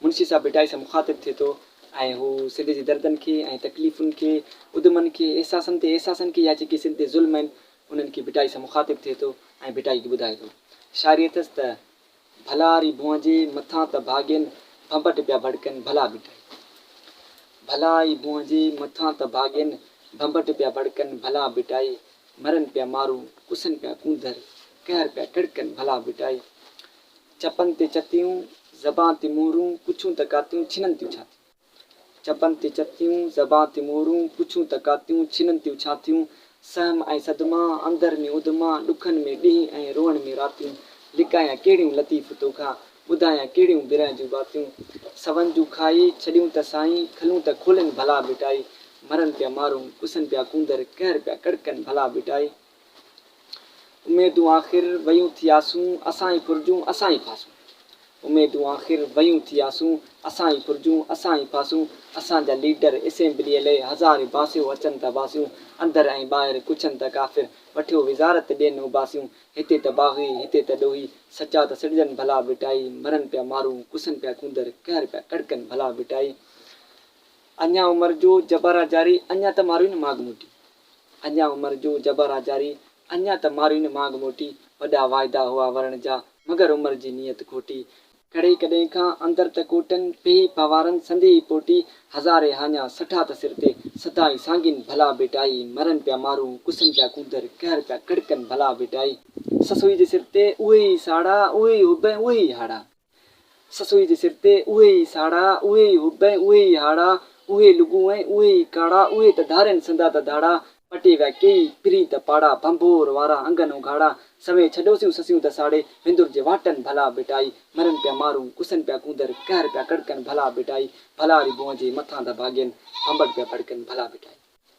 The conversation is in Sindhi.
منشي صاحب ڀٽائي سان مخاطب ٿئي ٿو ۽ هو سنڌ جي دردن کي ۽ تڪليفن کي، ادمن کي، احساسن تي احساسن کي يا جيڪي سنڌ تي ظلم آهن انهن کي ڀٽائي سان مخاطب ٿئي ٿو ۽ ڀٽائي کي ٻڌائي ٿو. شاعري اٿس ته، ڀلا ري ڀونئجي مٿان ته ڀاڳين ڀنڀٽ پيا ڀڙڪن ڀلا ڀٽائي. ڀلا ئي ڀونئجي مٿان ته ڀاڳين ڀنڀٽ پيا ڀڙڪن ڀلا ڀٽائي. مرن پيا مارون، ڪسن پيا ڪونڌر، قهر پيا ڪڙڪن ڀلا ڀٽائي. چپن تي چتيون، زبان تي مورون، پڇون ته ڪاتيون، ڇنن تيون ڇا ٿيون؟ چپن تي چتيون، زبان تي مورون، پڇون ته ڪاتيون، ڇنن تيون ڇا ٿيون؟ سهم ۽ صدما، اندر ۾ اڌما، ڏکن ۾ ڏينهن ۽ روئڻ ۾ راتيون، لڪايان ڪهڙيون لطيف توکان، ٻڌايان ڪهڙيون برهه جون باتيون، سون جون کائي، ڇڏيون ته سائين، کلون ته کولين ڀلا ڀٽائي، مرن پيا مارون، ڪسن پيا ڪونڌر، قهر پيا ڪڙڪن ڀلا ڀٽائي. اميدون آخر ويون ٿي آسون، اسان ئي ڦرجون، اسان ئي ڦاسون. اميدون آخر ويون ٿي آسون، اسان ئي ڦرجون، اسان ئي ڦاسون. اسان جا ليڊر اسيمبليء لئي هزارين باسيون اچن ته باسيون، اندر ۽ ٻاهر ڪڇن ته ڪافر، وٺيو وزارت ڏين اوباسيون. هتي ته باغي، هتي ته ڏوهي، سچا ته سڏجن ڀلا ڀٽائي، مرن پيا مارو، ڪسن پيا ڪونڌر، قهر پيا ڪڙڪن ڀلا ڀٽائي. اڃا عمر جو جبارا جاري، اڃا ته مارو هن ماڳ موٽي. اڃا عمر جو جبر آ جاري، اڃا ته مارين مانگ موٽي، وڏا واعدا هئا ورڻ جا، مگر عمر جي نيت کوٽي. ڪڙهي ڪڏهن کان اندر ته ڪوٽن، پيهي پنوارن سندي ئي پوٽي، هزارين هاڃا سٺا ته سر تي، سدائين سانگين ڀلا ڀيٽائي، مرن پيا مارو، ڪسن پيا ڪونڌر، قهر پيا ڪڙڪن ڀلا ڀيٽائي. سسئي جي سر تي اهي ئي ساڙا، اهي ئي حب ۽ اهي ئي هاڙا. سسئي جي سر تي اهي ئي ساڙا، اهي ئي حب ۽ اهي ئي هاڙا، اهي لڳون ۽ اهي ئي ڪاڙا، اهي ته ڌارين سندا ته ڌاڙا، پٽي ويا ڪيئي پرين ته پاڙا، ڀنڀور وارا انگن اگهاڙا، سوين ڇڏوسيون سسيون ته ساڙي، وندر جي واٽن ڀلا ڀٽائي، مرن پيا مارون، ڪسن پيا ڪونڌر، قهر پيا ڪڙڪن ڀلا ڀٽائي، ڀلا ري بونهه جي مٿان ڌڀاڳين، ڀنڀٽ پيا ڀڙڪن ڀلا ڀٽائي.